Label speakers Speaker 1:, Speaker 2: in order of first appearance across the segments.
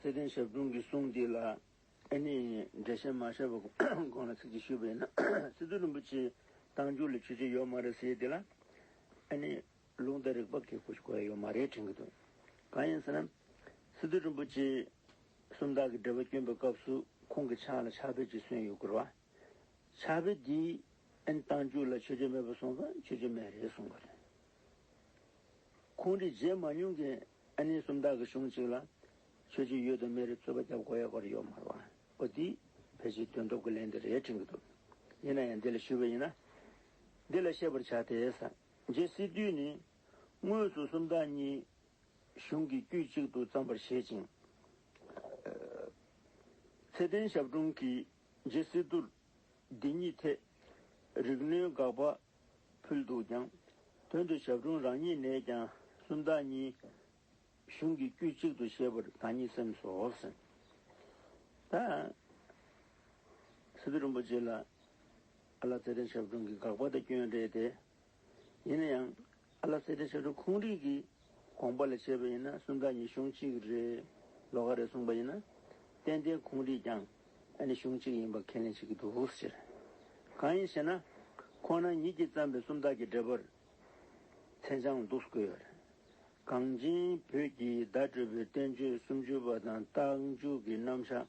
Speaker 1: ཚེ་བརྟན་ཞབས་དྲུང་གི་གསུང་འདི་ལ་ཨེ་ནས་འགྲེལ་བཤད་མ་བྱས་པ་གོང་ལ་ཚིག་གཅིག་ཞུས་པ་ཡིན་ན། སི་ཏུ་རིན་པོ་ཆེའི་གཏམ་རྒྱུད་ལ་ཆོས་བྱེད་ཡོད་མ་རེད་ཟེར་དེ་ལ་ཨེ་ནས་ལུང་བསྟན་རིགས་པ་གལ་པོ་ཞིག་གོ་ཡ་ཡོད་མ་རེད་དྲན་གྱི་འདུག་གང་ཡིན་ཟེར་ན། སི་ཏུ་རིན་པོ་ཆེ་སུམ་རྟགས་ཀྱི་འགྲེལ་པ་བསྐྱོན་པའི་སྐབས་སུ་ཁོང་གི་ཕྱག་ལ་ཕྱག་དཔེ་ཅིག་སོན་ཡོད་སྐོར། ཕྱག་དཔེ་དེའི་ཨེ་ནས་གཏམ་རྒྱུད་ལ་ཆོས་བྱེད་མེད་པ་གསུངས་པ་ཆོས་བྱེད་མེད་རེད་གསུངས་པ་རེད། ཁོང་གིས་བརྗེད་མ་མྱོང་གི་ཨ་ནེ་སུམ་རྟགས་ཀྱི་གཞུང་གཅིག་ལ། ཆོས་རྗེ་གཡུལ་དང་སྨན་རིའི་ཚོད་པ་སྐྱབས་སྒོ་ཡ་སྒོ་རེ་ཡོད་མ་རུང། པོ་འདིས། ཕལ་ཆེར་དོན་ཐོབ་ཀྱི་ལན་འདི་རེ་དྲན་གྱི་འདུག། ཡིན་ན་ཡང་འདི་ལ་ཞུ་བས་ཡིན་ན། འདི་ལ་བཤད་པར་བྱ་སྟེ། རྗེ་སི་ཏུས་ནི། དངོས་སུ་སུམ་རྟགས་གཉིས། གཞུང་གི་དཀྱུས་གཅིག་ཏུ་བརྩམས་པར་བཞེད་ཅིང། ཚེ་བརྟན་ཞབས་དྲུང་གིས་རྗེ་སི་ཏུར། འདི་ཉིད་ཐད། རིག་ནོན་དགག་པ་ཕུལ་འདུག་ཀྱང། དོན་དུ་ཞབས་དྲུང་རང་ཉིད་ནས་ཀྱང་སུམ་རྟགས་གཉིས། གཞུང་གི་དཀྱུས་གཅིག་ཏུ་བཤད་པར་ད་ཉིད་སེམས་སུ་འོབས་ཟིན། ད། སི་ཏུ་རིན་པོ་ཆེ་ལ། ཨ་ལ་ཚེ་རིང་ཞབས་དྲུང་གི་དགག་པ་དེ་སྐྱོན་རེད་དེ། ཡིན་ན་ཡང། ཨ་ལ་སེ་ཏེ་ཞབས་བྲོ་ཁུངས་རིགས་ཀྱི་དགོངས་པ་ལ་བྱས་པ་ཡིན་ན་སུམ་རྟགས་ཉིད་གཞུང་གཅིག་རེད་ལོ་ག་རེ་གསུངས་པ་ཡིན་ན་ཏན་ཏན་ཁུངས་རིགས་ཀྱང་ཨ་ནི་གཞུང་གཅིག་ཡིན་པར་ཁས་ལེན་བྱེད་ཀྱི་འདུག་ཟེར། གང་ཡིན་ཞེ་ན་ཁོ་ན་ཉིད་ཀྱིས་བརྩམས་པའི་སུམ་རྟགས་ཀྱི་འགྲེལ་པར་མཚན་བྱང་འདུག་དགོས་པ་རེད། གངས་ཅན་བོད་ཀྱི་བརྡ་སྤྲོད་པའི་བསྟན་བཅོས་སུམ་ཅུ་པ་དང་རྟགས་འཇུག་གི་རྣམ་བཞག་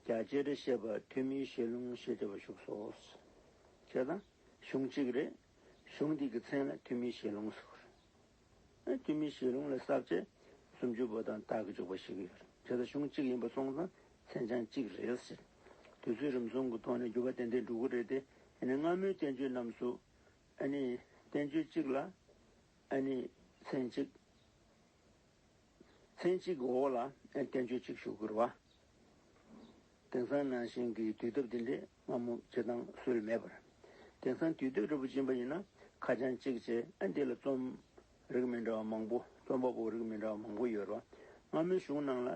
Speaker 1: རྒྱ་ཆེར་བཤད་པ་ཐོན་མིའི་ཞལ་ལུང་ཞེས་བྲིས་པ་བཞུགས་སོ། ཞེས་དང། གཞུང་གཅིག་རེད། གཞུང་འདི་གི་མཚན་ལ་ཐུན་མིན་བཤད་ལུང་ཟེར། ཐུན་མིན་བཤད་ལུང་ལ་ཟབ་ཆ་སུམ་ཅུ་པོ་དང་རྟགས་ཀྱི་འཇུག་པ་ཞིག་ཡོད། དེ་དག་གཞུང་གཅིག་ཡིན་པ་སོང་ཙང་མཚན་བྱང་གཅིག་རེད་ཟེར། དུས་ཚོད་རིམ་སོང་གི་ཐོག་ནས་འགྱུར་བ་ཏན་ཏན་འགྲོ་གི་རེད་དེ། སྔ་མོའི་བསྟན་བཅོས་རྣམས་སུ། བསྟན་བཅོས་གཅིག་ལ། མཚན་གཅིག། ཚན་གཅིག་གི་འོག་ལ་བསྟན་བཅོས་གཅིག་ཞུ་དགོས་བ། དེང་སང་ནང་བཞིན་གྱི་དུས་སྟབས་འདི་འདྲས་སྔ་མོ་བྱེད་སྟངས་སུལ་མེད་པར། དེང་སང་དུས་སྟོད་རི་བོ་བྱིན་པ་ཡིན་ན་ཁ་བྱང་གཅིག་བྱས་ཨ་འདི་ལ་རྩོམ་རིགས་མི་འདྲ་བ་མང་པོ་རྩོམ་པ་པོ་རིགས་མི་འདྲ་བ་མང་པོ་ཡོད་ར་བ། སྔ་མོའི་གཞུང་ནང་ལ་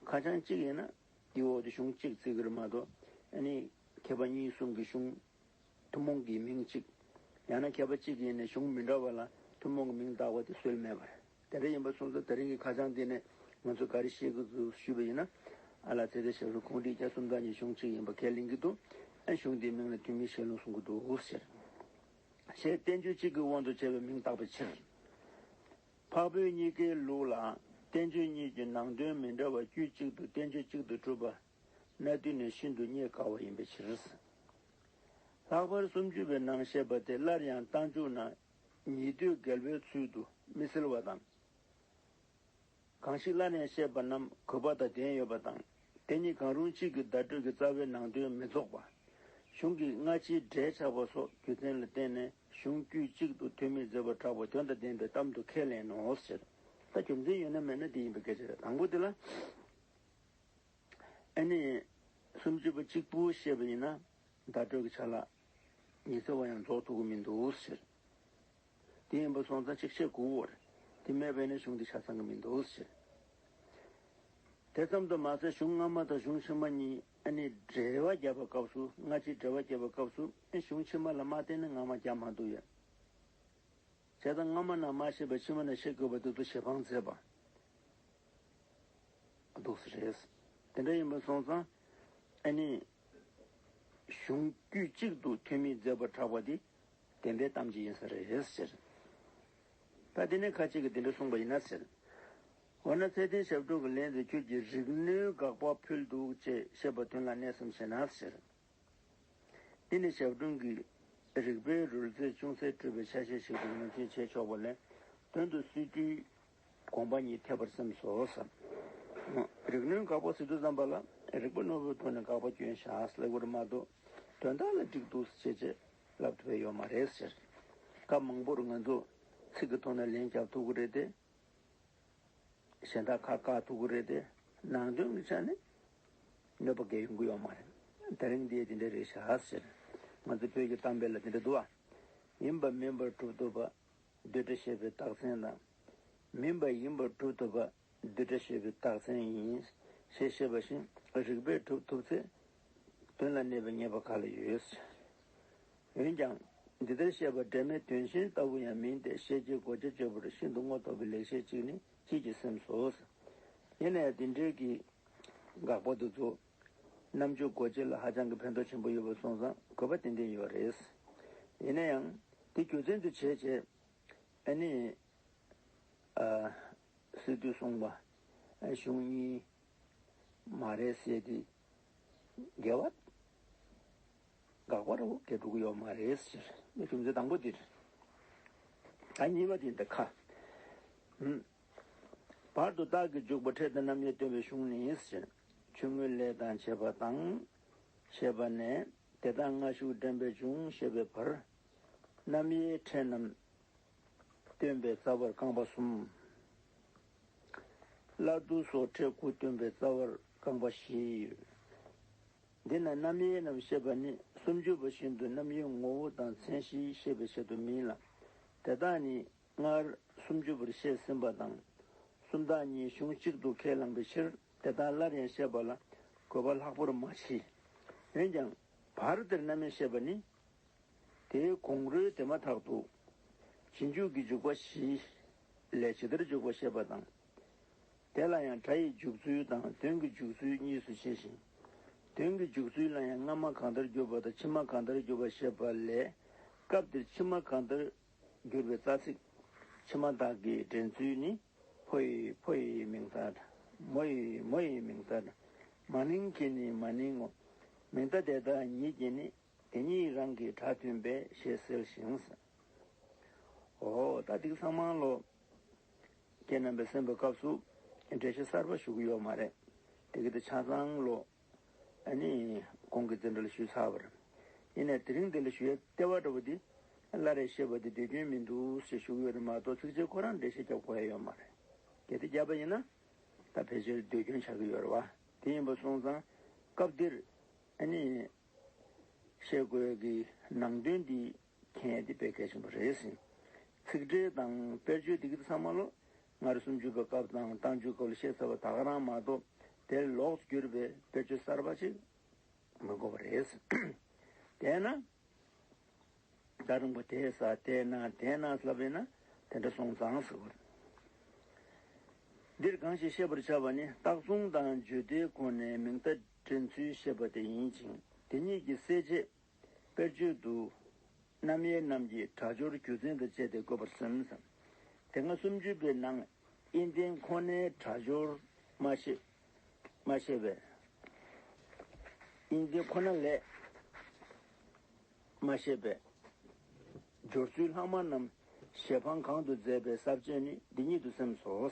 Speaker 1: ཁ་བྱང་གཅིག་ཡིན་ན་དེའི་འོག་ཏུ་གཞུང་གཅིག་བརྩི་གིར་མ་གཏོགས་མཁས་པ་གཉིས་གསུམ་གྱི་གཞུང་ཐུན་མོང་གི་མིང་གཅིག་ཡང་ན་མཁས་པ་གཅིག་ཡིན་ནས་གཞུང་མི་འདྲ་བ་ལ་ཐུན་མོང་གི་མིང་བཏགས་པ་དེ་སུལ་མེད་པར། དེ་འདྲ་ཡིན་པ་སོང་ཚོ་དེ་རིང་གི་ཁ་བྱང་འདི་ནས་ང་ཚོས་ག་རེ་ཤེས་ཀྱི་འདུག་ཞུས་པ་ཡིན་ན། ཨ་ལགས་ཚེ་ཁེ་ཞེས་པའི་ཁོང་ཁྲིའི་རྒྱ་གསུམ་དག་གཉིས་གཞུང་གཅིག་ཡིན་པ་ཁས་ལེན་གྱི་འདུག་ཨ་གཞུང་དེའི་མིང་ལ་ཐུན་མིན་ཞལ་ལུང་གསུང་གི་འདུག་ཟེར། ཞེས་བསྟན་བཅོས་གཅིག་གི་དབང་དུ་བྱས་པའི་མིང་བཏགས་པའི་ཕྱིར། འཕགས་བོད་གཉིས་ཀའི་ལུགས་ལ་བསྟན་བཅོས་གཉིས་ཀྱི་ནང་དོན་མི་འདྲ་བ་དཀྱུས་གཅིག་ཏུ་བསྟན་བཅོས་གཅིག་ཏུ་གྲུབ་པ། གནའ་དུས་ནས་ཤིན་ཏུ་རྙེད་དཀའ་བ་ཡིན་པའི་ཕྱིར། ལྷག་པར་སུམ་ཅུ་པའི་ནང་བཤད་པ་དེ་སླར་ཡང་རྟ་མཇུག་ན་ཉེ་དུས་རྒད་པོའི་ཚུལ་དུ་མི་སེལ་བ་དང། གང་ཞིག་བླ་ནས་བཤད་པ་རྣམས་གུས་པ་དང་ལྡན་ཡོད་པ་དང་དེ་གཉིས་གང་རུང་གཅིག་གི་བརྡ་སྤྲོད་ཀྱི་རྩ་བའི་ནང་དོན་མི་རྫོགས་པ། གཞུང་གི་སྔ་ཕྱིའི་འབྲེལ་ཆགས་པ་སོགས་རྒྱུ་མཚན་ལ་བརྟེན་ནས་གཞུང་དཀྱུས་གཅིག་ཏུ་ཐོན་མིས་མཛད་པར་གྲགས་པ་དོན་དང་ལྡན་པའི་གཏམ་དུ་ཁས་ལེན་ནོ་ཞེས་དང། ད་རྒྱུ་མཚན་ཡོད་ན་མེད་ན་དེ་ཡིན་པའི་སྐད་ཆ་རེད། དང་པོ་དེ་ལ། ཨེ་ནས། སུམ་ཅུ་པ་གཅིག་པུ་བཤད་པ་ཡིན་ན་བརྡ་སྤྲོད་ཀྱི་ཆ་ལགས། ཉི་ཟེར་བ་ཡང་རྫོགས་ཐུག་གི་མི་འདུག་ཟེར། དེ་ཡིན་པ་སོང་ཙང་གཅིག་བྱེད་དགུ་བོར་དེ་མེད་པས་ན་གཞུང་འདི་ཆ་ཚང་གི་མི་འདུག་ཟེར། དེ་ཙམ་དུ་མ་ཟད་གཞུང་སྔ་མ་དང་གཞུང་ཕྱི་མ་གཉིས་ནི་འགྲེལ་བ་བརྒྱབ་པའི་སྐབས་སུ་སྔ་ཕྱིའི་འགྲེལ་བ་བརྒྱབ་པའི་སྐབས་སུ་གཞུང་ཕྱི་མ་ལ་མ་བརྟེན་ནས་སྔ་མ་བརྒྱབ་མ་འདུག་ཡོད། བྱས་ཙང་སྔ་མ་ན་མ་ཤེས་པས་ཕྱི་མ་ན་ཤེས་དགོས་པ་དེ་ཚོ་ཞེ་འཕངས་མཛད་པ་འདུག་ཟེར། དེ་འདྲ་ཡིན་པ་སོང་ཙང་ཨེ་ནི། གཞུང་དཀྱུས་གཅིག་ཏུ་ཐོན་མིའི་མཛད་སྒོར་གྲགས་པ་འདི་བདེན་པའི་གཏམ་གྱི་ཡིན་ས་རེད་ཟེར། ད་དེ་ནས་ཁ་ཅིག་གིས་དེ་འདྲ་གསུངས་པ་ཡིན་ན་ཟེར། འོ་ན་ཚེ་བརྟན་ཞབས་དྲུང་གི་ལན་དུ་ཁྱོད་ཀྱིས་རིག་གནོན་དགག་པ་ཕུལ་འདུག་ཅེས་བཤད་པ་དོན་ལ་གནས་སམ་ཞེ་ན་ཟེར། འདི་ནི་ཞབས་དྲུང་གིས་རིག་པའི་རོལ་རྩེད་ཅུང་ཟད་སྤྲོས་པའི་ཆ་ཤས་ཤིག་ཏུ་ངོས་འཛིན་བྱས་ཆོག་པ་ལས་དོན་དུ་སྲིད་གྲོས་དགོངས་པ་ཉིད་འཐད་པར་སེམས་སོ། རིགས་སྣོད་འགག་པ་ཟིལ་དུ་བརྩམས་པ་ལ། རིག་པ་རྣོ་བོའི་ཐོག་ནས་འགག་པ་སྐྱོན་བཞག་ལེགས་པར་སྨྲ། དོན་དག་ལ་འགྲིག་འདུག་ཟེར་བྱས་རྗེས་ལབ་ཐུབ་པའི་ཡོད་མ་རེད་ཟེར། སྐབས་མང་པོར་ང་ཚོ་ཚིག་གི་ཐོག་ནས་ལན་རྒྱབ་ཐུབ་ཀྱི་རེད་དེ། གཞན་དག་ཁ་བཀག་ཐུབ་ཀྱི་རེད་དེ། ནང་དོན་གྱི་ཆ་ནས་གནོད་པ་འགའ་ཡོང་གི་ཡོད་མ་རེད། དེ་རིང་འདིའི་དེ་འདྲ་རེད་བཞག་ཟེར། ང་ཚོ་བོད་ཀྱི་གཏམ་དཔེ་ལ་དེ་འདྲ་འདུག་ཨ། ཡིན་པ་མིན་པར་གྲུབ་ཐུབ་པ་བསྡུས་གྲྭ་ཞེས་པའི་རྟགས་མཚན་དང། མིན་པ་ཡིན་པར་གྲུབ་ཐོབ་པ་བསྡུས་གྲྭ་ཞེས་པའི་རྟགས་མཚན་ཡིན། ཞེས་བཤད་པ་བཞིན་རིགས་པས་གྲུབ་ཐོབ་ཚེ་དོན་ལ་གནས་པའི་ཉེས་པ་ག་ལ་ཡོད། འོན་ཀྱང་འདི་ལྟར་བཤད་པ་འབྲེལ་མེད་དོན་གཞན་ལྟ་བུ་ཡང་མིན་ཏེ་ཤེས་བྱའི་གོ་ཆ་སྤྱོད་པར་ཤིན་ཏུ་རྔོ་ཐོགས་པའི་ལེགས་བཤད་ཅིག་ནི་སྐྱིད་ཀྱིས་སེམས་སོ། ཡིན་ན་ཡང་འདི་འབྲེལ་གྱིས་དགག་པ་དུ་ཚུགས། རྣམ་དཔྱོད་སྒོ་འབྱེད་ལ་ཧ་ཅང་གི་ཕན་ཐོགས་ཆེན་པོ་ཡོད་པ་སོང་ཙང་གོ་བ་ཏན་ཏན་ཡོད་པ་རེད། ཡིན་ན་ཡང་དེ་རྒྱུ་མཚན་དུ་བྱས་རྗེས་ཨ་ནེ། སི་ཏུས་གསུངས་པ་གཞུང་གཉིས་མ་རེད་ཟེར་དེ་འགལ་བ་དགག་པར་འོ་བརྒྱལ་འགྲོ་གི་ཡོད་མ་རེད་ཟེར་རྒྱུ་མཚན་དང་པོ་འདི་རེད། ད་གཉིས་པ་དེ་འདི་ཁ། བར་དུ་རྟགས་ཀྱི་འཇུག་པ་འཕྲལ་དུ་རྣམ་དབྱེ་སྟོན་པའི་གཞུང་ནི་ཞེས་ཆུང་ངུའི་ལས་དང་བྱེད་པ་དང། ཞེས་པ་ནས་དེ་དག་སྔ་གཞུག་འདྲེན་པའི་འབྱུང་ཞེས་པའི་བར། རྣམ་དབྱེའི་འཕྲལ་རྣམས་སྟོན་པའི་རྩ་བར་རྐང་པ་གསུམ། སླར་བསྡུ་སོགས་འཕྲལ་དགུ་སྟོན་པའི་རྩ་བར་རྐང་པ་བཞི་ཡོད། འདི་ན་རྣམ་དབྱེ་རྣམས་བཤད་པ་ནི་སུམ་ཅུ་པ་བཞིན་དུ་རྣམ་དབྱེའི་ངོ་བོ་དང་མཚན་གཞིའི་ཤེས་པའི་ཆེད་དུ་མིན་ལ། དེ་དག་ནི་སྔར་སུམ་ཅུ་པར་བཤད་ཟིན་པ་དང། སུམ་རྟགས་གཉིས་གཞུང་གཅིག་ཏུ་ཁས་བླངས་པའི་ཕྱིར་དེ་དག་སླར་ཡང་བཤད་པ་ལ་དགོས་པ་ལྷག་པོར་མ་མཆིས། འོན་ཀྱང་བར་དེར་རྣམ་དབྱེ་བཤད་པ་ནི། དེའི་གོང་རོལ་དེ་མ་ཐག་ཏུ། རྗེས་འཇུག་གི་འཇུག་པ་བཞི། ལས་ཇི་ལྟར་འཇུག་པ་བཤད་པ་དང། དེ་ལ་ཡང་སྒྲ་ཡི་འཇུག་ཚུལ་དང་དོན་གྱི་འཇུག་ཚུལ་གཉིས་སུ་ཕྱེ་ཞིང། དོན་གྱི་འཇུག་ཚུལ་ལ་ཡང་སྔ་མ་གང་ལྟར་གྱུར་པ་དང་ཕྱི་མ་གང་ལྟར་གྱུར་པ་བཤད་པ་ལས། སྐབས་འདིར་ཕྱི་མ་གང་ལྟར་བསྒྱུར་བའི་རྩ་ཚིག། ཕྱི་མ་དག་གི་འདྲེན་ཚུལ་ནི། ཕོ་ཡི་ཕོ་ཡི་མིང་རྟགས་དང། མོ་ཡི་མོ་ཡི་མིང་རྟགས་དང། མ་ནིང་གི་ནི་མ་ནིང་ངོ། མིང་རྟགས་དེ་དག་ཉིད་ཀྱིས་ནི། དེ་གཉིས་རང་གི་སྒྲ་མཐུན་པས་ཞེས་ཟེར་ཞིང། ཧོ། ད་ཏིག་ཚང་མང་ལོ། ཀྱེ་རྣམ་པའི་སེམས་དཔའི་སྐབས་སུ། འགྲེལ་བཤད་གསར་པ་ཞུགས་ཡོད་མ་རེད། དེ་གི་ཏི་ཆ་ཚང་ལོ། གོང་གི་འཛིན་གྲོལ་ཞུས་ཚར་བར། ཡིན་ནས་དེ་རིང་འདི་ལ་ཞུ་ཡ་སྟེར་བ་འདྲ་བོ་འདི། སླར་རེ་ཤེས་པ་འདི་འདོད་སྐྱོན་མིན་འདུག་ཞེས་བཞུགས་ཡོད་ན་མ་གཏོགས་ཚིགས་བཅད་ཁོ་རང་འགྲེལ་བཤད་རྒྱབ་གོ་ཡ་ཡོད་མ་རེད། གལ་ཏེ་བརྒྱབ་པ་ཡིན་ན། ད་ཕལ་ཆེར་འདོད་སྐྱོན་ཆགས་ཀྱི་ཡོད་རེད་བ། དེ་ཡིན་པ་སོང་ཙང། སྐབས་འདིར། བཤད་དགོས་ཀྱི་ནང་དོན་འདི། གལ་ཏེ་དཔེ་གལ་ཆེན་པོ་རེད་ཟིན། ཚིག་འགྲེལ་དང་དཔེར་བརྗོད་འདི་གི་ཚང་མ་ལོ། སྔར་སུམ་ཅུ་པའི་སྐབས་དང་བཏང་ཆུའི་སྐབས་ལ་བཤད་ཚར་བ་དག་རང་མ་གཏོགས་དེར་ལོགས་སུ་གྱུར་པའི་དཔེར་བརྗོད་གསར་པ་ཅིག་མི་དགོས་པ་རེད། དེས་ན། ད་རིང་པོ་དེ་ས་དེ་ན་དེ་ན་ལབ་པས་ན་དེ་འདྲ་སོང་ཙང་ཟེར་བ། འདིར་གང་ཞིག་ཤེས་པར་བྱ་བ་ནི་རྟགས་མཚུངས་དང་བརྗོད་བདེའི་སྒོ་ནས་མིང་བརྡ་འདྲེན་ཚུལ་བཤད་པ་དེ་ཡིན་ཅིང་དེ་གཉིས་ཀྱི་གསལ་བྱེད་དཔེར་བརྗོད་དུ། རྣམ་དབྱེ་རྣམས་ཀྱི་སྒྲ་སྦྱོར་རྒྱུ་མཚན་དང་བཅས་ཏེ་བཀོད་པར་སེམས། དེ་སྔ་སུམ་ཅུ་པའི་ནང་དབྱེ་འབྲིང་ཁོ་ནའི་སྒྲ་སྦྱོར་མ་ཤེས། མ་ཤེས་པས། དབྱེ་འབྲིང་ཁོ་ན་ལས། མ་ཤེས་པས། སྦྱོར་ཚུལ་ལྷག་མ་རྣམས་ཞལ་འཕང་གང་དུ་མཛད་པའི་ཟབ་ཅེས་ནི་འདི་ཉིད་དུ་སེམས་སོ།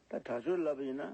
Speaker 1: ད་སྒྲ་སྦྱོར་ལབ་པ་ཡིན་ན།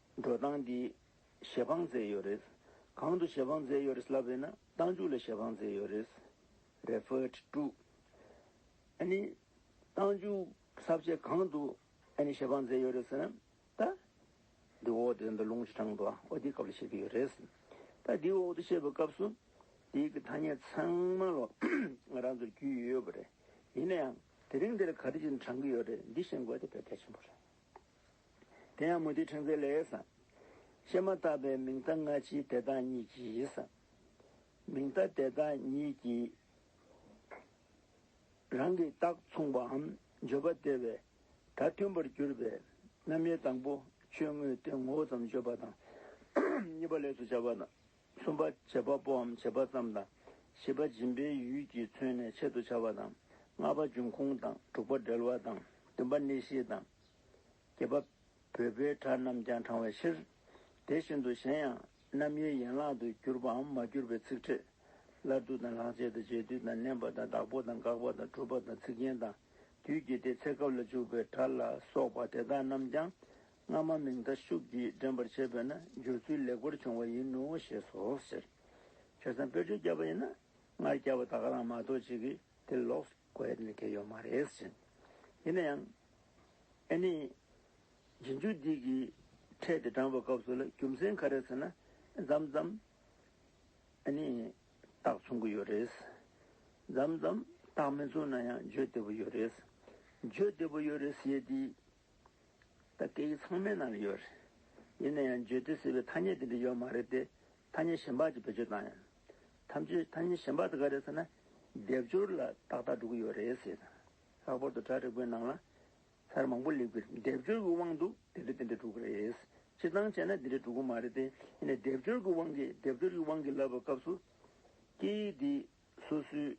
Speaker 1: འགྲོ་སྟངས་འདི། ཞལ་འཕངས་མཛད་ཡོད་རེད། གང་དུ་ཞལ་འཕངས་མཛད་ཡོད་རེད་ལབ་ཡོད་ན་སྟངས་འཇུག་ལ་ཞལ་འཕངས་མཛད་ཡོད་རེད། Referred to། ཨ་ནི། སྟངས་འཇུག་ཟབ་བཅས་གང་དུ་ཨ་ནི་ཞལ་འཕངས་མཛད་ཡོད་རེད་ཟེར་ན། ད། འདི་འོག་ཏུ་འདི་ལུང་བྱེད་གྲངས་དུའང་འོ་དེའི་སྐབས་ལ་བཤད་ཀྱི་ཡོད་རེད། ད་འདི་འོག་ཏུ་བཤད་པའི་སྐབས་སུ། འདིའི་གི་ཐ་སྙད་ཚང་མ་ལོ། ང་རང་ཚོར་རྒྱུས་ཡོད་པ་རེད། ཡིན་ན་ཡང། དེ་རིང་འདིར་ག་རེ་ཅིག་འདྲང་གི་ཡོད་རེད་འདི་ཤེས་དགོས་དེ་ཕལ་གལ་ཆེན་པོ་རེད། དེ་ཡང་མུ་སྟེགས་ཕྲེང་མཛེས་ལེགས། བཤད་མ་ཐག་པའི་མིང་བརྡ་སྔ་ཕྱིའི་དེ་དག་ཉིད་ཀྱིས། མིང་བརྡ་དེ་དག་ཉིད་ཀྱིས། རང་གི་རྟགས་མཚུངས་པའམ་བརྗོད་པ་སྟེར་བས་ད་མཐུན་པར་གྱུར་པའི་རྣམ་དབྱེ་དང་པོ་ཆོས་དངོས་ཏེ་ངོ་བོ་ཙམ་བརྗོད་པ་དང། གཉིས་པ་ལས་སུ་བྱ་བ་དང། གསུམ་པ་བྱེད་པ་པོའམ་བྱེད་པ་ཙམ་དང། བཞི་པ་སྦྱིན་པའི་ཡུལ་གྱིས་མཚོན་ནས་ཆེད་དུ་བྱ་བ་དང། ལྔ་པ་འབྱུང་ཁུངས་དང་དྲུག་པ་འབྲེལ་བ་དང་བདུན་པ་གནས་གཞི་དང། བརྒྱད་པ་བོད་པའི་གྲྭ་རྣམས་ཀྱང་དྲང་བའི་ཕྱིར། དེ་བཞིན་དུ་གཞན་ཡང་རྣམ་དབྱེའི་ཡན་ལག་ཏུ་གྱུར་པའམ་མ་གྱུར་པའི་ཚིག་ཕྲད། སླར་བསྡུ་དང་ལྷག་བཅས་དང་རྗེས་བསྡུ་དང་བསྣན་པ་དང་བདག་པོ་དང་དགག་པ་དང་གྲུབ་པ་དང་ཚིག་རྒྱན་དང་དུས་ཀྱི་དེ་ཚེ་སྐབས་ལ་འཇུག་པའི་སྒྲ་ལ་སོགས་པ་དེ་དག་རྣམས་ཀྱང་སྔ་མ་མིང་མཐའ་ཤུགས་ཀྱིས་འདྲེན་པར་བྱེད་པས་ན་སྦྱོར་ཚུལ་ལེགས་པར་བྱུང་བ་ཡིན་ནོ་ཞེས་སོ་ཟེར། ཁྱོད་ཚང་དཔེར་བརྗོད་བརྒྱབ་པ་ཡིན་ན་སྔར་བསྐྱལ་བ་དག་ག་རང་མ་གཏོགས་གཅིག་གིས་དེ་ལོགས་སུ་བཀོད་ཡོད་ནི་དགེ་ཡོད་མ་རེད་ཟེར། ཡིན་ན་ཡང། ཨེ་ནི། རྗེས་འཇུག་འདི་གིས་ཕྲད་དེ་དྲངས་པའི་སྐབས་སུ་ལ་རྒྱུ་མཚན་ག་རེ་ཟེར་ན། འཛམ་འཛམ། ཨེ་ནི། རྟགས་མཚུངས་ཀྱི་ཡོད་རེད། འཛམ་འཛམ། རྟགས་མི་མཚུངས་ན་ཡང་བརྗོད་བདེ་པོ་ཡོད་རེད། བརྗོད་བདེ་པོ་ཡོད་རེད་ཟེར་དུས། ད་སྐད་ཡིག་ཚང་མའི་ནང་ལ་ཡོད་རེད། ཡིན་ན་ཡང་བརྗོད་དུས་ཟེར་བའི་ཐ་སྙད་དེ་འདྲ་ཡོད་མ་རེད་དེ། ཐ་སྙད་གཞན་དཔག་ཅིག་བེད་སྤྱོད་བཏང་ཡང། ཐམས་ཅད་ཐ་སྙད་གཞན་དཔག་དེ་ག་རེད་ཟེར་ན། སྡེབ་སྦྱོར་ལ་ཏག་ཏག་འགྲོ་གི་ཡོད་རེད་ཟེར། ལྷག་པར་དུ་དྲ་རིག་པའི་ནང་ལ། ཚར་མང་པོ་ལེགས་པའི་སྡེབ་སྦྱོར་གྱི་དབང་དུ་དེ་འདྲ་དེ་འདྲ་འགྲོ་གི་རེད། སྤྱིར་བཏང་བྱས་ན་དེ་འདྲ་འགྲོ་གི་མ་རེད་དེ། ཡིན་ནས་སྡེབ་སྦྱོར་གྱི་དབང་གིས་སྡེབ་སྦྱོར་གྱི་དབང་གིས་ལབ་པའི་སྐབས་སུ། སྐད་ཡིག་འདི་སོ་སོའི་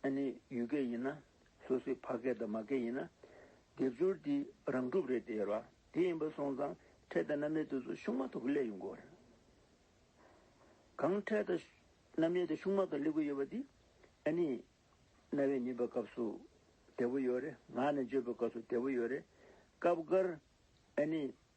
Speaker 1: ཨ་ནེ་ཡུལ་སྐད་ཡིན་ན། སོ་སོའི་ཕ་སྐད་དང་མ་སྐད་ཡིན་ན། སྡེབ་སྦྱོར་འདི་རང་གྲུབ་རེད་དེ་ར་དེ་ཡིན་པ་སོང་ཙང་འཕྲད་དང་རྣམ་དབྱེ་དེ་ཚོ་ཤུགས་མ་ཐོག་གི་སླད་ཡོང་གི་བ་རེད། གང་འཕྲད་དང་རྣམ་དབྱེ་དེ་ཤུགས་མ་ཐོག་སླད་གི་ཡོད་པ་དེ་ཨ་ནེ་རྣ་བས་ཉན་པའི་སྐབས་སུ་བདེ་བོ་ཡོད་རེད་ངག་ནས་བརྗོད་པའི་སྐབས་སུ་བདེ་བོ་ཡོད་རེད། སྐབས་འགར་ཨ་ནེ་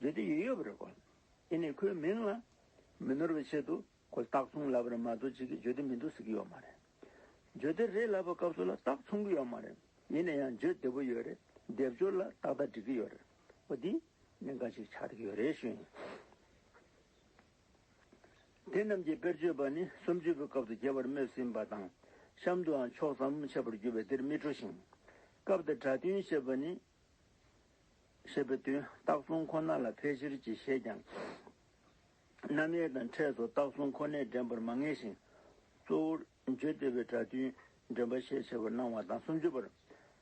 Speaker 1: མཛད་དུ་ཡོད་ཡོད་པ་རེད་གོ། དེ་ནས་ཁོའི་མིང་ལ་མི་ནོར་བའི་ཆེད་དུ་ཁོ་སྟག་ཚུང་ལབ་རེད་མ་གཏོགས་ཅི་གི་ཇོ་དེ་མི་འདུག་ཟེར་གྱི་ཡོད་མ་རེད། ཇོ་དེ་རེད་ལབ་པའི་སྐབས་སུ་ལ་སྟག་ཚུང་གི་ཡོད་མ་རེད། ཡིན་ན་ཡང་ཇོ་དེ་པོ་ཡོད་རེད་སྡེབ་སྦྱོར་ལ་ཏག་ཏག་འགྲིག་གི་ཡོད་རེད། ཨོ་དེ་ནས་འགའ་ཞིག་ཆགས་ཀྱི་ཡོད་རེད་ཞུ་ཡིན། དེ་རྣམས་ཀྱི་དཔེར་བརྗོད་པ་ནི་སུམ་ཅུ་པའི་སྐབས་དུ་རྒྱལ་བར་སྨོད་ཟིན་པ་དང། གཤམ་དུའང་ཕྱོགས་ཟབ་མོ་འཆད་པར་འགྱུར་བས་འདིར་མི་སྤྲོ་ཞིང། སྐབས་དེར་གྲྭ་བསྟུན་ཞེས་པ་ནི་ཞེས་པའི་དོན་རྟགས་གསུམ་ཁོ་ན་ལ་ཕལ་ཆེར་གྱིས་བཞེད་ཀྱང། རྣམ་དབྱེ་དང་ཕྲད་སོགས་རྟགས་གསུམ་ཁོ་ནས་འདྲེན་པར་མ་ངེས་ཤིང། གཙོ་བོར་བརྗོད་བདེ་བའི་སྒྲ་མཐུན་འདྲེན་པ་ཤས་ཆེ་བར་སྣང་བ་དང་སུམ་ཅུ་པར།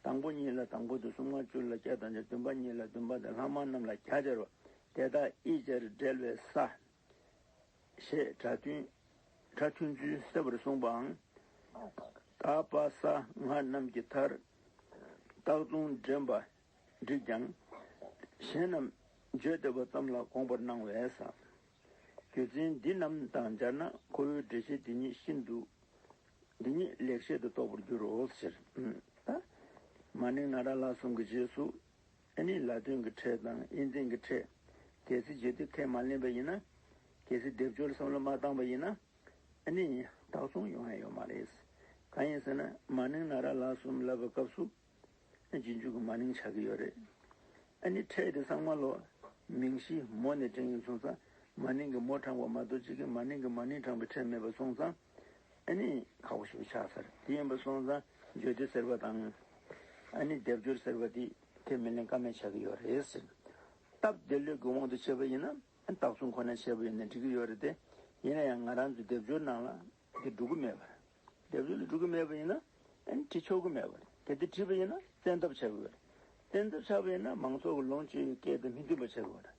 Speaker 1: དང་པོ་གཉིས་ལ་དང་པོ་དང་གསུམ་ཀ་བཅུ་ལ་བརྒྱ་དང་བཅུ་བདུན་པ་གཉིས་ལ་བདུན་པ་དང་ལྷག་མ་རྣམས་ལ་གྱ་སྦྱར་བ། དེ་དག་དབྱེ་སྦྱར་སྦྲེལ་བའི་ས། ཞེས་གྲྭ་མཐུན་ཚུལ་གསལ་བར་གསུངས་པའང། ཀ་པ་ས་ལྔ་རྣམས་ཀྱི་མཐར་རྟགས་ལྟུང་འདྲེན་པ་བསྒྲིགས་ཀྱང། གཞན་རྣམས་བརྗོད་བདེ་བ་ཙམ་ལ་དགོངས་པར་སྣང་བས། རྒྱུ་མཚན་འདི་རྣམས་དང་སྦྱར་ན་ཁོ་བོའི་འགྲེལ་བཤད་འདི་ཉིད་ཤིན་ཏུ་འདི་ཉིད་ལེགས་བཤད་དུ་རྟོགས་པར་འགྱུར་རོ། མ་ནིང་ན་ར་ལ་གསུམ་གྱི་རྗེས་སུ། ཨ་ནི་ལ་དོན་གྱི་ཕྲད་དང་དབྱེ་འཛིན་གྱི་ཕྲད། གལ་སྲིད་བརྗོད་བདེ་ཁས་མ་ལེན་པ་ཡིན་ན། གལ་སྲིད་སྡེབ་སྦྱོར་བསམ་བློ་མ་བཏང་བ་ཡིན་ན། ཨ་ནི་དག་གསུང་ཡོང་ཡ་ཡོད་མ་རེད། གང་ཡིན་ཟེར་ན་མ་ནིང་ན་ར་ལ་གསུམ་ལབ་པའི་སྐབས་སུ། རྗེས་འཇུག་གི་མ་ནིང་ཆགས་ཀྱི་ཡོད་རེད། ཨ་ནི་ཕྲད་དེ་གསང་མ་ལོ། མིང་གཞི་མོ་ནས་བསྒྲེངས་ཡོད་སོང་ཙང་མ་ནིང་གི་མོ་དྲངས་བ་མ་གཏོགས་གཅིག་གིས་མ་ནིང་གི་མ་ནིང་དྲངས་པའི་ཕྲད་མེད་པ་སོང་ཙང། ཨ་ནི་ཁ་བོ་ཞིག་ཆགས་ཚར་དེ་ཡིན་པ་སོང་ཙང་བརྗོད་དེ་ཟེར་བ་དང། ཨ་ནི་སྡེབ་སྦྱོར་ཟེར་བ་འདི་ཁྱོད་མི་ལེན་ཀ་མེད་ཆགས་ཀྱི་ཡོད་རེད་ཟེར། སྟབས་བདེ་ལུས་ཀྱི་དབང་དུ་བྱས་པ་ཡིན་ན་དག་བསུ་ཁོ་ན་བྱས་པ་ཡིན་ན་འགྲིག་གི་ཡོད་རེད་དེ། ཡིན་ན་ཡང་ང་རང་ཚོའི་སྡེབ་སྦྱོར་ནང་ལ་དེ་འགྲོ་གི་མེད་པ་རེད། སྡེབ་སྦྱོར་ལ་འགྲོ་གི་མེད་པ་ཡིན་ན་ཨ་ནི་བྲིས་ཆོག་གི་མེད་པ་རེད་དེ། དེ་བྲིས་པ་ཡིན་ན་བཙན་ཐབས་བྱ་གི་ཡོད་རེད། བཙན་ཐབས་བྱ་བ་ཡིན་ན་མང་ཚོགས་ཀྱི་ལོངས་སྤྱོད་ཀྱི་སྐད་དེ་མི་མཐུན་པ་བྱ་གི་ཡོད་རེད།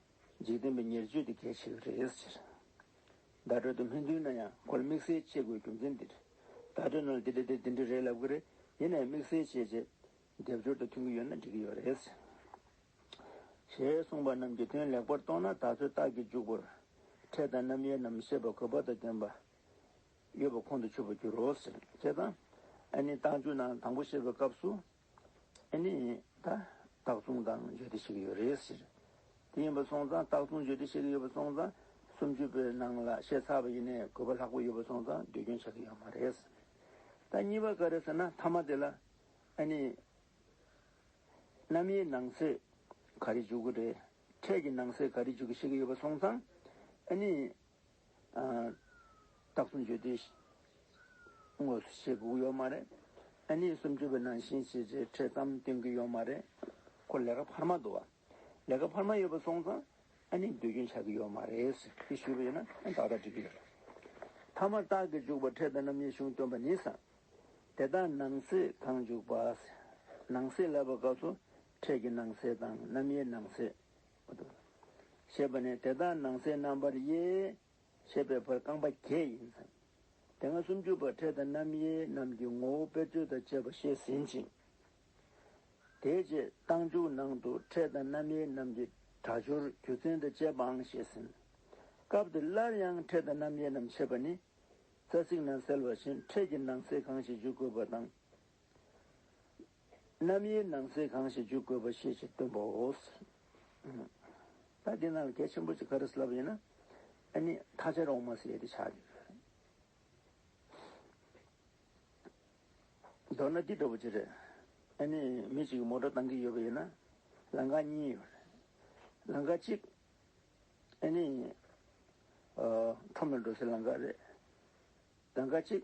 Speaker 1: འཇིག་རྟེན་པའི་ཉེར་སྤྱོད་དེ་གལ་ཆེ་བའི་རེད་ཟེར། བརྡ་སྤྲོད་དུ་སྨིན་དུས་ན་ཡང་སྒོར་དམིགས་བསལ་བྱེད་དགོས་རྒྱུ་མཚན་འདིར། བརྡ་སྤྲོད་ནང་ལ་འདི་འདྲ་དེ་འདི་འདྲ་རེད་ལབ་ཀྱི་རེད་དེ་ནས་དམིགས་བསལ་བྱས་རྗེས། སྡེབ་སྦྱོར་དང་མཐུན་གྱི་ཡོད་ན་འགྲིག་གི་ཡོད་རེད་ཟེར། ཞེས་གསུངས་པ་རྣམས་ཀྱི་དོན་ལེགས་པོར་རྟོགས་ན་ད་གཟོད་རྟགས་ཀྱི་འཇུག་པོར། ཕྲད་དང་རྣམ་དབྱེ་རྣམས་ཤེས་པ་གོ་བབ་དང་ལྡན་པ། ཡོད་པ་ཁོང་དུ་ཆུད་པར་འགྱུར་རོ་ཟེར། དེ་དང། ཨ་ནི་རྟགས་འཇུག་ནང་དང་པོ་བཤད་པའི་སྐབས་སུ། ཨེ་ནས་ད། སྟག་བཙུང་དང་བརྗོད་བདེ་བཤད་གི་ཡོད་རེད་ཟེར། དེ་ཡིན་པ་སོང་ཙང་སྟག་བཙུང་བརྗོད་བདེ་བཤད་གི་ཡོད་པ་སོང་ཙང། སུམ་ཅུ་པའི་ནང་ལ་བཤད་ཚར་བ་ཡིན་ནས་གོ་བ་ལྷག་པོ་ཡོད་པ་སོང་ཙང་ཟློས་སྐྱོན་ཆགས་གི་ཡོད་མ་རེད། ད་གཉིས་པ་ག་རེད་ཟེར་ན་མཐའ་མ་དེ་ལ། ཨེ་ནས། གནམ་ཡའི་ནང་སེ་ག་རེ་འཇུག་གི་རེད། འཕྲད་ཀྱི་ནང་སེ་ག་རེ་འཇུག་གི་བཤད་གི་ཡོད་པ་སོང་ཙང། ཨེ་ནས། རྟགས་གསུམ་བརྗོད་དུས་དངོས་སུ་བྱེད་དགོས་ཀྱི་ཡོད་མ་རེད། ཨ་ནེ་སུམ་ཅུ་པའི་ནང་བཞིན་བྱེད་ཆེད་འཕྲལ་གཏམ་སྟོན་གྱི་ཡོད་མ་རེད། ཁོ་ལས་ཀ་འཕར་མ་འདུག་བ། ལས་ཀ་འཕར་མ་ཡོད་པ་སོང་ཙང་ཨ་ནེས་སྡོད་རྒྱུན་ཆགས་ཀྱི་ཡོད་མ་རེད། ཞེས་ཞུས་པ་ཡིན་ན་ཨ་ནེས་ཏག་ཏག་འགྲིག་གི་ཡོད་རེད། མཐའ་མར་རྟགས་ཀྱི་འཇུག་པ་འཕྲལ་དང་རྣམ་དབྱེ་གཞུང་སྟོན་པ་ནི། དེ་དག་ནང་གསེས་གང་འཇུག་པ། ནང་གསེས་ལབ་པའི་སྐབས་སུ་འཕྲལ་གྱི་ནང་གསེས་དང་རྣམ་དབྱེའི་ནང་གསེས། ཞེས་པ་ནས་དེ་དག་ནང་གསལ་རྣམ་པར་དབྱེ། ཞེས་པའི་བར་རྐང་པ་བརྒྱད་ཡིན། དེ་སྔ་སུམ་ཅུ་པར་འཕྲལ་དང་རྣམ་དབྱེ་རྣམས་ཀྱི་ངོ་བོ་དཔེར་བརྗོད་དང་བཅས་པ་བཤད་ཟིན་ཅིང། དེའི་རྗེས་རྟགས་འཇུག་ནང་དུ་འཕྲལ་དང་རྣམ་དབྱེ་རྣམས་ཀྱི་སྒྲ་སྦྱོར་རྒྱུ་མཚན་དང་བཅས་པའང་བཤད་ཟིན། སྐབས་འདིར་སླར་ཡང་འཕྲལ་དང་རྣམ་དབྱེ་རྣམས་ཕྱེ་བ་ནི། རྩ་ཚིག་ནང་གསལ་བ་བཞིན་འཕྲལ་གྱི་ནང་གསེས་གང་ཞིག་འཇུག་དགོས་པ་དང། རྣམ་དབྱེའི་ནང་ཚན་གང་ཞིག་འཇུག་དགོས་པ་ཤེས་ཕྱིར་སྟོན་པའོ། ད་འདི་ན་གལ་ཆེན་པོ་གཅིག་ག་རེ་བསླབ་ཡིན་ན། ཨ་ནི་ཐ་ཆད་འོག་མ་ཟེར་ཏེ་ཆགས་ཡོད། མདོར་ན་འདི་འདྲ་བོ་ཅི་རེད། ཨ་ནི་མི་གཅིག་གིས་མོ་གྲོ་བཏང་གི་ཡོད་པ་ཡིན་ན། ལང་ཀ་གཉིས་ཡོད་རེད། ལང་ཀ་གཅིག། ཨ་ནི། ཁྲོམ་ལ་འགྲོ་སའི་ལང་ཀ་རེད། ལང་ཀ་གཅིག།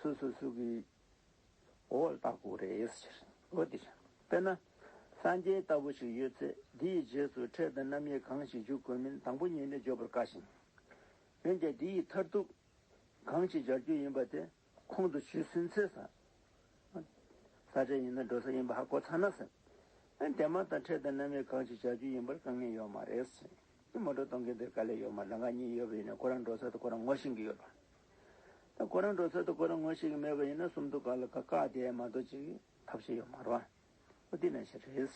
Speaker 1: སུ་སུ་སུ་གི་འོ་ལ་བཏགས་པོ་རེད། ཨོ་དེ། དཔེར་ན། སངས་རྒྱས་ལྟ་བུ་ཞིག་ཡོད་ཚེ་དེ་ཡི་རྗེས་སུ་འཕྲད་པའི་རྣམ་དབྱེ་གང་ཞིག་འཇུག་དགོས་མིན་དང་པོ་ཉིད་ནས་བརྗོད་པར་དཀའ་ཞིང། འོན་ཀྱང་དེ་ཡི་མཐར་ཐུག་གང་ཞིག་སྦྱར་རྒྱུ་ཡིན་པ་དེ་ཁོང་དུ་ཆུད་ཟིན་ཚེ། ས་བྲལ་ཡིན་ན་འགྲོ་ས་ཡིན་པ་ཧ་གོ་ཚར་ན་ཟེར། དེ་མ་ཐག་འཕྲད་པའི་རྣམ་དབྱེ་གང་ཞིག་སྦྱར་རྒྱུ་ཡིན་པར་དཀའ་ངལ་ཡོད་མ་རེད། མོ་འགྲོ་གཏོང་མཁན་དེར་དཀའ་ལས་ཡོད་མ་རེད་འགའ་གཉིས་ཡོད་པ་ཡིན་ནའི་ཁོ་རང་འགྲོ་ས་དེ་ཁོ་རང་ངོ་ཤེས་ཀྱི་ཡོད་པ། ད་ཁོ་རང་འགྲོ་ཚོད་དུ་ཁོ་རང་ངོ་ཤེས་ཀྱི་མེད་པ་ཡིན་ན་གསུམ་དུ་བཀག་ལ་ཁ་བཀག་དེ་མ་གཏོགས་ཅི་ཐབས་ཤེས་ཡོད་མ་རོ། ཨོ་དེ་ན་ཞེ་རེད།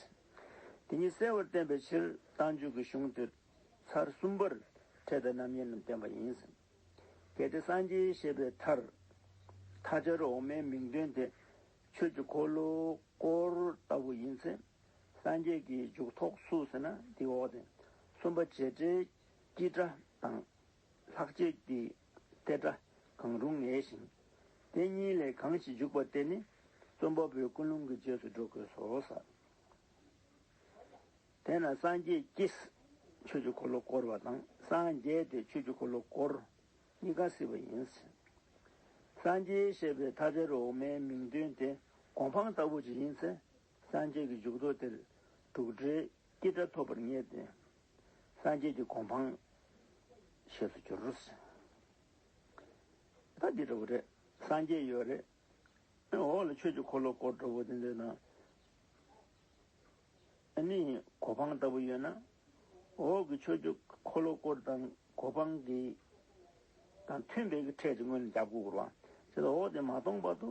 Speaker 1: དེ་ཉིད་གསལ་བར་བསྟན་པའི་ཕྱིར་རྟ་མཇུག་གི་གཞུང་དུ། ཚར་གསུམ་པར་ཕྲད་པའི་རྣམ་དབྱེ་རྣམས་བསྟན་པ་ཡིན། གལ་ཏེ་སངས་རྒྱས་ཞེས་པའི་མཐར། མཐའ་སྦྱར་འོག་མའི་མིང་དོན་དེ། ཆོས་ཀྱི་འཁོར་ལོ་སྐོར་ལྟ་བུ་ཡིན་ཚེ། སངས་རྒྱས་ཀྱི་མཇུག་ཐོགས་སུ་ཟེར་ན་དེའི་འོག་ཏུ། གསུམ་པ་རྗེས་འབྲེལ་གྱི་སྒྲ་དང། ལྷག་བཅས་ཀྱི་སྟེ་སྒྲ་གང་རུང་ངེས་ཤིང། དེ་གཉིས་ལས་གང་ཞིག་འཇུག་པ་དེ་ནི་རྩོམ་པ་པོའི་ཀུན་སློང་གི་རྗེས་སུ་འགྲོ་དགོས་སོ། དེས་ན་སངས་རྒྱས་ཀྱིས་ཆོས་ཀྱི་འཁོར་ལོ་བསྐོར་བ་དང་སངས་རྒྱས་དེས་ཆོས་ཀྱི་འཁོར་ལོ་བསྐོར་གཉིས་ཀ་སྲིད་པ་ཡིན། སངས་རྒྱས་ཞེས་པའི་ཐ་དད་འོག་མའི་མིང་དོན་དེ་གོ་འཕང་ལྟ་བུ་ཞིག་ཡིན་ཚེ་སངས་རྒྱས་ཀྱི་འཇུག་ལྡོག་དེར་དྲུག་སྒྲའི་སྐྱེས་སྒྲ་ཐོབ་པར་ངེས་ཏེ། སངས་རྒྱས་ཀྱི་གོ་འཕང། ཞེས་སུ་གྱུར། ད་འདི་འདྲ་བོ་རེད། སངས་རྒྱས་ཡོད་རེད། འོག་ལ་ཆོས་ཀྱི་འཁོར་ལོ་སྐོར་འདྲ་བོ་དེ་འདོད་ན། ཨ་ནི་གོ་འཕང་ལྟ་བུ་ཡོད་ན། འོག་གི་ཆོས་ཀྱི་འཁོར་ལོ་སྐོར་དང་གོ་འཕང་གི་དང་མཐུན་པའི་གི་ཕྲད་ཅིག་སྔོན་ལ་རྒྱབ་སྐུར་བ། ཅི་ལ་འོག་དེ་མ་སྟོང་བར་དུ།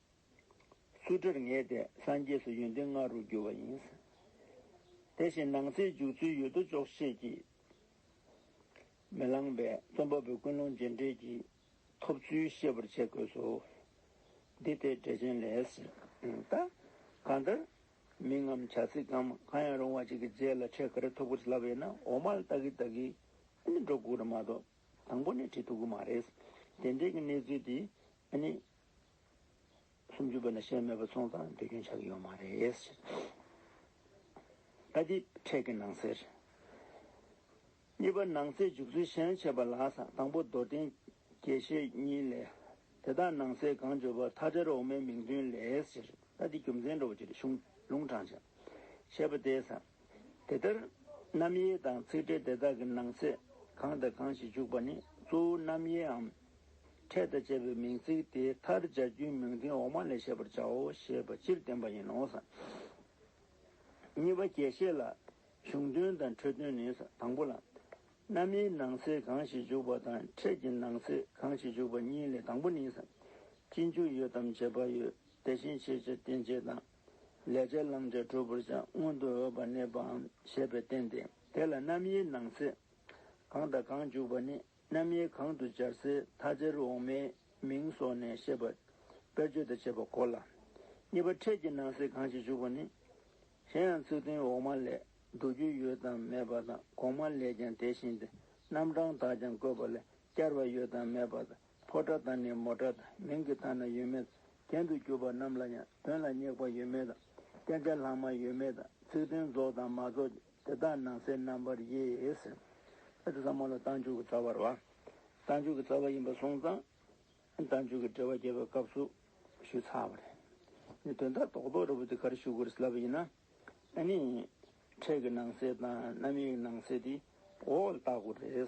Speaker 1: སུ་གྲིར་ངེས་ཏེ་སངས་རྒྱས་སུ་ཡོན་ཏན་ལྔ་རུ་འགྱུར་བ་ཡིན། དེ་བཞིན་ནང་གསེས་འཇུག་ཚུལ་ཡོད་དོ་ཅོག་ཤེས་ཀྱིས་མི་ལངས་པས་རྩོམ་པ་པོས་ཀུན་སློང་རྗེས་འབྲེལ་གྱི་ཐོབ་ཚུལ་ཤེས་པར་བྱེད་དགོས་སོ། འདི་ལྟའི་འགྲེལ་ཆེན་ལས། ད། གང་ལྟར། མིང་ངམ་བྱ་ཚིག་གམ་གང་ཡང་རུང་བ་ཅིག་གི་རྗེས་ལ་ཕྲད་ག་རེ་ཐོབ་ཁུལ་བྱེད་ལབ་ཡོད་ན་འོག་མར་ལྟ་གི་ལྟ་གི། འདི་འགྲོ་ལྐུགས་རེད་མ་གཏོགས་དང་པོ་ནས་བྲིས་ཐུབ་ཀི་མ་རེད། དེ་འབྲེལ་གྱི་གནས་ཚུལ་དེ་ཨ་ནི། སུམ་ཅུ་པའི་ན་ཤལ་མེད་པ་ཚོང་ཙང་སྡོད་རྒྱུན་ཆགས་ཀྱི་ཡོད་མ་རེད། ཨ་ཏི། ཕྲད་ཀྱི་ནང་གསེར། གཉིས་པ་ནང་གསེས་འཇུག་ཚུལ་ཤན་ཕྱེད་པ་ལགས་སམ་དང་པོ་རྡོར་གདན་དགེ་བཤེས་གཉིས་ལས། དེ་དག་ནང་གསེས་གང་བརྗོད་པ་མཐའ་བྲལ་འོག་མའི་མིང་བདུན་ལས། ཨ་ཏི་རྒྱུ་མཚན་འགྲོ་བ་ཅིག་རེ་ཤུང་ལུང་དྲངས་བྱ། ཞེས་པ་དེས་སམ། དེ་ལྟར་རྣམ་དབྱེ་དང་ཚིག་འགྲེལ་དེ་དག་གི་ནང་ཚེག་གང་དང་གང་ཞིག་འཇུག་པ་ནི་གཙོ་བོ་རྣམ་དབྱེའམ། ཕྲད་དང་བཅས་པའི་མིང་ཚིག་དེའི་མཐར་སྦྱར་རྒྱུའི་མིང་དོན་འོག་མ་ལས་ཤེས་པར་བྱའོ་ཞེས་པ་སྤྱིར་བསྟན་པ་ཡིན་ནོ། གཉིས་པ་རྒྱས་བཤད་ལ། གཞུང་དོན་དང་འཕྲོས་དོན་ནི། དང་པོ་ལ། རྣམ་དབྱེའི་ནང་ཚེག་གང་ཞིག་འཇུག་པ་དང་ཕྲད་ཀྱི་ནང་ཚེག་གང་ཞིག་འཇུག་པ་གཉིས་ལས་དང་པོ་ནི། སྤྱི་འཇུག་ཡོད་དམ་བྱེད་པ་ཡོད་དེ་བཞིན་བྱེད་བྱེད་རྟེན་བྱེད་དང། ལས་བྱས་བླང་བྱ་གྲུབ་པར་ཀྱང་མངོན་དུ་འོས་པར་གནས་པའམ་ཞེས་པས་བསྟན་ཏེ། དེ་ལ་རྣམ་དབྱེའི་ནང་ཚེ་གང་དང་གང་འཇུག་པ་ནི་རྣམ་དབྱེ་གང་དུ་སྦྱར་སའི་མཐའ་ཅེར་འོག་མའི་མིང་སོགས་ནས་བཤད་པ་དཔེར་བརྗོད་དང་བཅས་པ་གོ་ལ། གཉིས་པ་འཕྲལ་གྱི་ནང་ཚེ་གང་ཞིག་འཇུག་པ་ནི། གཞན་ཡང་ཚིག་དོན་འོག་མ་ལས་བསྡུ་རྒྱུ་ཡོད་དམ་མེད་པ་དང་གོང་མ་ལས་ཀྱང་དེ་བཞིན་ཏེ་རྣམ་གྲངས་དག་ཀྱང་བཀོད་པ་ལས་བསྐྱར་བ་ཡོད་དམ་མེད་པ་དང་ཕོ་བྲ་དང་ནི་མོ་བྲ་དང་མིང་གི་དང་ན་ཡོད་མེད་ཚུལ་གྱེན་དུ་གྱུར་པ་རྣམས་ལ་ཡང་དོན་ལ་སྙེག་པ་ཡོད་མེད་དང་བསྟན་བྱ་ལྷག་མ་ཡོད་མེད་དང་ཚིག་དོན་རྫོགས་དང་མ་རྫོགས་ཀྱི་དེ་དག་ནང་གསེས་རྣམ་པར་དབྱེ། ཟེར། དེ་ཟབ་མོ་ལ་བཏང་འཇུག་གི་རྩ་བར་བ། བཏང་འཇུག་གི་རྩ་བ་ཡིན་པར་སོང་ཙང། བཏང་འཇུག་གི་འབྲེལ་བ་རྒྱས་པའི་སྐབས་སུ་ཞུས་ཚར་བ་རེད། ནི་དོན་དག་རྟོགས་རྟོགས་རེ་བོ་དེ་གར་ཞུ་དགོས་སླ་བ་ཡིན་ན། ནི། འཕྲལ་གྱི་ནང་གསེས་དང་རྣམ་དབྱེའི་ནང་གསེས་དེ་འོག་ལ་བརྟག་དགོས་རེད།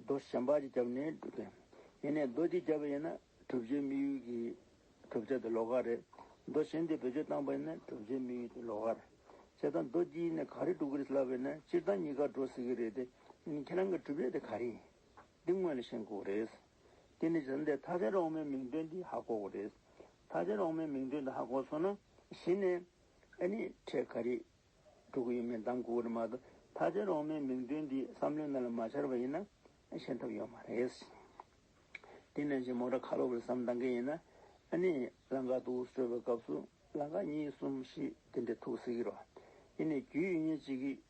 Speaker 1: རྡོ་གཞན་པ་གཅིག་བརྒྱབ་ནས་བསྒྲུབ་དགོས། ཡིན་ནས་རྡོ་གཅིག་བརྒྱབ་པ་ཡིན་ན་གྲུབ་ཆའི་དམིགས་ཡུལ་གྱི་གྲུབ་ཆ་དེ་ལོགས་ཀ་རེད། རྡོ་གཞན་དེ་བེད་སྤྱོད་བཏང་པ་ཡིན་ན་གྲུབ་ཆའི་དམིགས་ཡུལ་དེ་ལོགས་ཀ་རེད། བྱས་ཙང་རྡོ་གཅིག་ཡིན་ནས་ག་རེ་གྲུབ་ཀི་རེད་ལབ་པ་ཡིན་ན་སྤྱིར་བཏང་གཉིས་ཀ་འགྲོ་སྲིད་ཀི་རེད་དེ། ཡིན་ཁྱེད་རང་གི་གྲུབ་ཆ་དེ་ག་རེ་ཡིན། འདི་དངོས་ལ་ཤེས་དགོས་རེད། དེ་ནས་བྱས་ཙང་དེ་མཐའ་ཅན་རོང་མའི་མིང་དོན་དེ་ཧ་གོ་དགོས་རེད། མཐའ་ཅན་རོང་མའི་མིང་དོན་དེ་ཧ་གོ་སོང་ན་གཞི་ནས། ཨ་ནི། ཁྲས་ག་རེ། སྤྲུལ་སྐུ་ཡིན་མིན་དང་སྐུ་འོད་མ་དང་ཐ་ཚད་རོང་མའི་མིང་དོན་འདི་བསམ་བློའི་མེ་ལ་མ་འཆར་བ་ཡིན་ན་ཤེས་ཐབས་ཡོད་མ་རེད། དེ་ནས་བཞིན་མོ་དྲ་ཁ་ལོ་བར་བསམ་གཏང་གི་ཡིན། ཨཱནི། ལང་ཀ་ཏུའུ་སྤྲོད་པའི་སྐབས་སུ་ལང་ཀ་གཉིས་གསུམ་བཞི་དེ་འདྲའི་ཐུགས་གསིག་རོགས། དེ་ནས་རྒྱུས་ཡོད་ཉེར་གཅིག་གིས།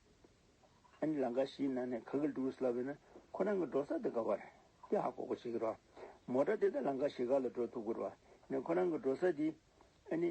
Speaker 1: ཨཱནི་ལང་ཀ་བཞིའི་ནང་ནས་ག་གི་ལྟུ་བུས་ལབ་པའི་ན་ཁོ་རང་གི་འགྲོ་ས་དེ་ག་བ་རེད་དེ་ཧ་གོ་གོ་བྱེད་ཀྱི་རོགས། མོ་དྲ་དེ་ད་ལང་ཀ་བཞི་ག་ལ་འགྲོ་ཐུབ་ཀྱི་རོགས་ནས་ཁོ་རང་གི་འགྲོ་ས་དེ་ཨཱནི།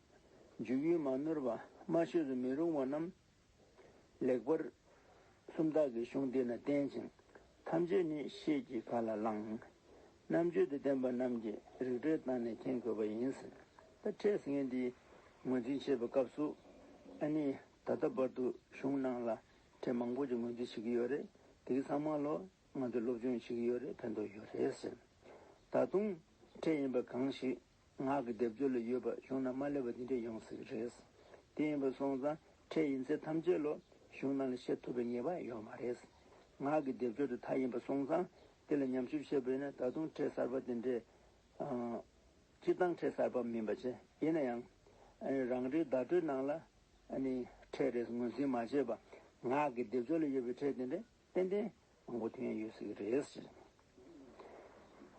Speaker 1: འཇུག་ཡུལ་མ་ནོར་པདྨ་བཤོས་སུ་མི་རུང་བ་རྣམས། ལེགས་པར་སུམ་རྟགས་ཀྱི་གཞུང་འདི་ན་བསྟན་ཅིང། ཐམས་ཅད་ནི་ཤེས་ཀྱིས་ག་ལ་བླང། རྣམ་དཔྱོད་དུ་ལྡན་པ་རྣམས་ཀྱིས་རིག་གྲོལ་བཏང་ནས་མཁྱེན་དགོས་པ་ཡིན། ད་ཕྲད་ངས་འདི་ངོས་འཛིན་བྱེད་པའི་སྐབས་སུ། ཨ་ནི་ད་ལྟ་བར་དུ་གཞུང་ནང་ལ་ཕྲད་མང་པོ་ཅིག་ངོས་འཛིན་བྱེད་ཀྱི་ཡོད་རེད་དེ་གི་ཚང་མ་ལོ་ང་ཚོས་སློབ་སྦྱོང་བྱེད་ཀྱི་ཡོད་རེད་ཕན་ཐོགས་ཡོད་རེད་ཟེར། ད་དུང་ཕྲད་ཡིན་པ་གང་ཞིག་ངག་གི་སྡེབ་སྦྱོར་ལ་ཡོད་པར་ཞུགས་ན་མ་བསླད་པ་འདི་འདྲ་ཡོང་སྲིད་རེད། དེ་ཡིན་པར་སོང་ཙང་ཕྲད་ཡིན་ཚད་ཐམས་ཅད་ལོ་གཞུང་ནང་ལ་བཤད་ཐུབ་པའི་ངེས་པ་ཡོད་མ་རེད། ངག་གི་སྡེབ་སྦྱོར་དེ་དག་ཡིན་པར་སོང་ཙང་དེ་ལ་ཉམས་ཞིབ་བྱེད་ཕོད་ན་ད་དུང་ཕྲད་གསར་པ་དེ་འདྲས། སྤྱིར་བཏང་ཕྲད་གསར་པ་མིན་པ་ཆེ་ཡིན་ན་ཡང། རང་རེའི་བརྡ་སྤྲོད་ནང་ལ། ཕྲད་རེས་ངོས་འཛིན་མ་བྱས་པར་ངག་གི་སྡེབ་སྦྱོར་ལ་ཡོད་པའི་ཕྲད་དེ་འདྲས། ཏན་ཏན་དབང་པོ་ཐོན་ཡོད་ཟིག་རེད།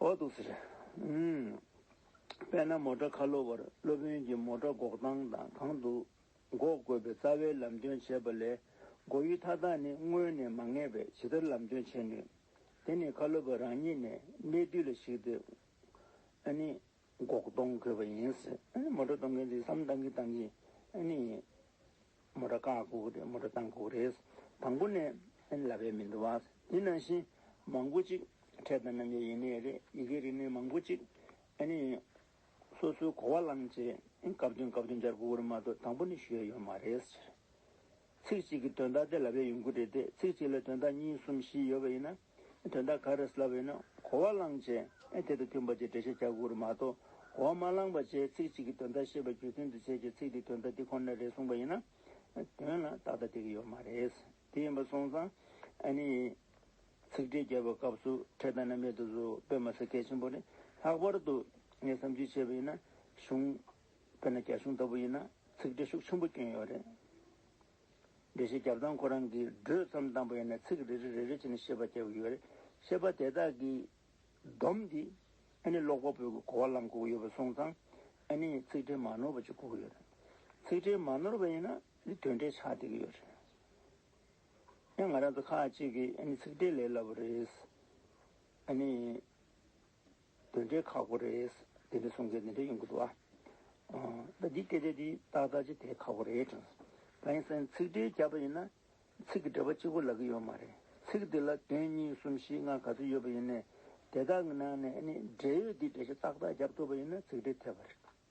Speaker 1: འོ་འདུག་ཟེར། དཔེར་ན་མོ་ཀྲ་ཁ་ལོ་བར་སློབ་དཔོན་གྱིས་མོ་ཀྲ་འགོག་སྟངས་དང་གང་དུ་འགོག་དགོས་པའི་རྩ་བའི་ལམ་སྟོན་བྱས་པ་ལས་འགོག་ཡུལ་མཐའ་དག་ནི་དངོས་ནས་མ་ངེས་པས་ཇི་ལྟར་ལམ་སྟོན་བྱེད་ནུས། དེ་ནི་ཁ་ལོ་བ་རང་ཉིད་ནས་གནད་བསྡུས་ལ་གཞིགས་ཏེ། འགོག་གཏོང་དགོས་པ་ཡིན། མོ་གྲོ་གཏོང་མཁན་དེ་བསམ་བཏང་གིན་བཏང་གིན། མོ་གྲོ་བཀག་འགུག་རེད་མོ་གྲོ་བཏང་འགུག་རེད། དང་པོ་ནས་ལབ་པའི་མི་འདུག་དེ་ནང་བཞིན་མང་པོ་ཅིག་འཕྲལ་བསྟར་གནང་རྒྱུ་ཡིན་ནི་རེད། ཡི་གེ་རིགས་ནི་མང་པོ་ཅིག། སོ་སོའི་གོ་བ་བླངས་རྗེས་སྐབས་བསྟུན་སྐབས་བསྟུན་འཇར་འགུག་གི་རིགས་མ་གཏོགས་དང་པོ་ནས་ཞུས་ཡ་ཡོད་མ་རེད། ཚིག་གཅིག་གིས་དོན་དག་དེ་ལབ་ཡ་ཡོང་གི་རེད་དེ་ཚིག་གཅིག་ལ་དོན་དག་གཉིས་གསུམ་བཞི་ཡོད་པ་ཡིན་ན། དོན་དག་ག་རེ་སླ་བས་ན་གོ་བ་བླངས་བྱས་དེ་དང་མཐུན་པ་བཅས་འགྲེལ་བཤད་བྱ་དགོས་རུང་མ་གཏོགས་གོ་བ་མ་བླངས་པ་བཅས་ཚིག་གཅིག་གིས་དོན་དག་ཤེས་པ་རྒྱུ་མཚན་དུ་བྱས་ཀྱི་ཚིག་དེས་དོན་དག་དེ་ཁོ་ནར་རེ་གསུངས་པ་ཡིན་ན། དོན་ལ་ཏག་ཏག་དེ་གི་ཡོད་མ་རེད། དེ་ཡིན་པ་སོང་ཙང་ཨ་ནི། ཚིག་འགྲེལ་རྒྱབ་པའི་སྐབས་སུ་འཕྲེད་དང་རྣམ་དབྱེ་དུ་བཟོ་དཔེ་མ་ཟད་གལ་ཆེན་པོ་ནི་ལྷག་པར་དུ། ངས་བསམ་ཚུལ་བྱས་པ་ཡིན་ན་གཞུང། དཔེར་ན་རྒྱ་གཞུང་ལྟ་བུ་ཡིན་ན་ཚིག་འགྲེལ་ཤུགས་ཆེན་པོ་བསྐྱོན་ཡོད་རེད། འགྲེལ་བཤད་རྒྱབ་དང་ཁོ་རང་གིས་བགྲོས་བརྩམས་དང་པོ་ཡིན་ན་ཚིག་རེ་རེ་རེ་རེ་བྱས་ནས་བཤད་པ་བསྐྱལ་དགོས་ཀྱི་ཡོད་རེད། བཤད་པ་དེ་དག་གིས་སྡོམ་དེ། ཨ་ནི་ཀློག་པ་པོའི་གི་གོ་བ་ལམ་གོ་གི་ཡོད་པ་སོང་ཙང། ཨ་ནི་ཚིག་འགྲེལ་མ་ནོར་བ་ཅིག་གོ་གི་ཡོད་རེད། ཚིག་འགྲེལ་མ་ནོར་བ་ཡིན་ན་འདི་དོན་འགྲེལ་ཆགས་བསྡད་གི་ཡོད་རེད། ཡང་ང་རང་ཚོ་ཁག་ཅིག་གིས་ཨ་ནི་ཚིག་འགྲེལ་ལས་སླ་པོ་རེད། ཨ་ནི། དོན་འབྲས་ཁག་པོ་རེད། དེ་འདྲའི་གསུང་མཁན་དེ་འདྲ་ཡོང་གི་འདུག་ཨ། ད་འདི་སྐད་ཆ་འདི་ཏག་ཏག་ཅིག་དེ་ཁག་པོ་རེད་དྲན་སོང། ད་ཡིན་ཟེར་ན་ཚིག་འགྲེལ་རྒྱབ་པ་ཡིན་ན། ཚིག་གི་འགྲེལ་པ་གཅིག་པོ་ལབ་གི་ཡོད་མ་རེད། ཚིག་འདི་ལ་དོན་གཉིས་གསུམ་བཞི་ལྔ་ག་ཚོད་ཡོད་པ་ཡིན་ནའི། དེ་དག་གི་ནང་ནས་ཨ་ནི་འབྲེལ་ཡོད་འདི་འགྲེལ་བཤད་ཏག་ཏག་རྒྱབ་ཐུབ་པ་ཡིན་ན་ཚིག་འགྲེལ་ཐེབས་པ་རེད།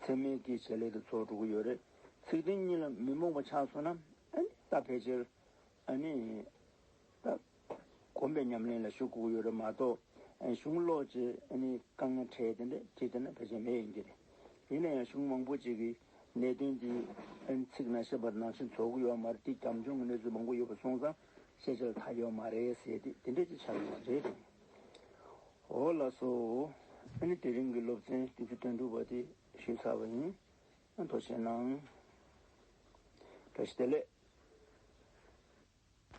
Speaker 1: ཚད་མའི་སྐྱེ་མཆེད་ལས་དེ་ཚོགས་དྲུག་གི་ཡོད་རེད། ཚིག་དོན་གཉིས་ལ་མི་རྨོངས་པ་ཆགས་སོང་ན། ད་ཕལ་ཆེར། ད། གོམས་པའི་ཉམས་ལེན་ལ་ཞུགས་དགོས་ཀྱི་ཡོད་རེད་མ་གཏོགས། གཞུང་ལོག་ཅེས། དཀའ་ངལ་འཕྲད་དེ་འདྲ་བྲིས་བསྡད་ན་ཕལ་ཆེར་མེད་ཡིན་གྱི་རེད། ཡིན་ན་ཡང་གཞུང་མང་པོ་ཅིག་གིས་གནད་དོན་འདི། ཚིག་ནང་བཤད་པ་ནང་བཞིན་རྫོགས་ཀྱི་ཡོད་མ་རེད་དེ་རྒྱབ་ལྗོངས་ཀྱི་གནས་ཚུལ་མང་པོ་ཡོད་པ་སོང་ཙང་བཤད་བྱ་ལ་ཐ་ཡོད་མ་རེད་ཟེར་ཏེ་དེ་འདྲ་ཅིག་ཆགས་ཡོད་རེད། ཨོ་ལ་སོ། ཨ་ནི་དེ་རིང་གི་སློབ་ཚན་བདུན་ཅུ་དོན་དྲུག་པ་དེ་ཞུས་ཚར་བ་ཡིན། དོ་ཤལ་གནང། བཀྲ་ཤིས་བདེ་ལེགས།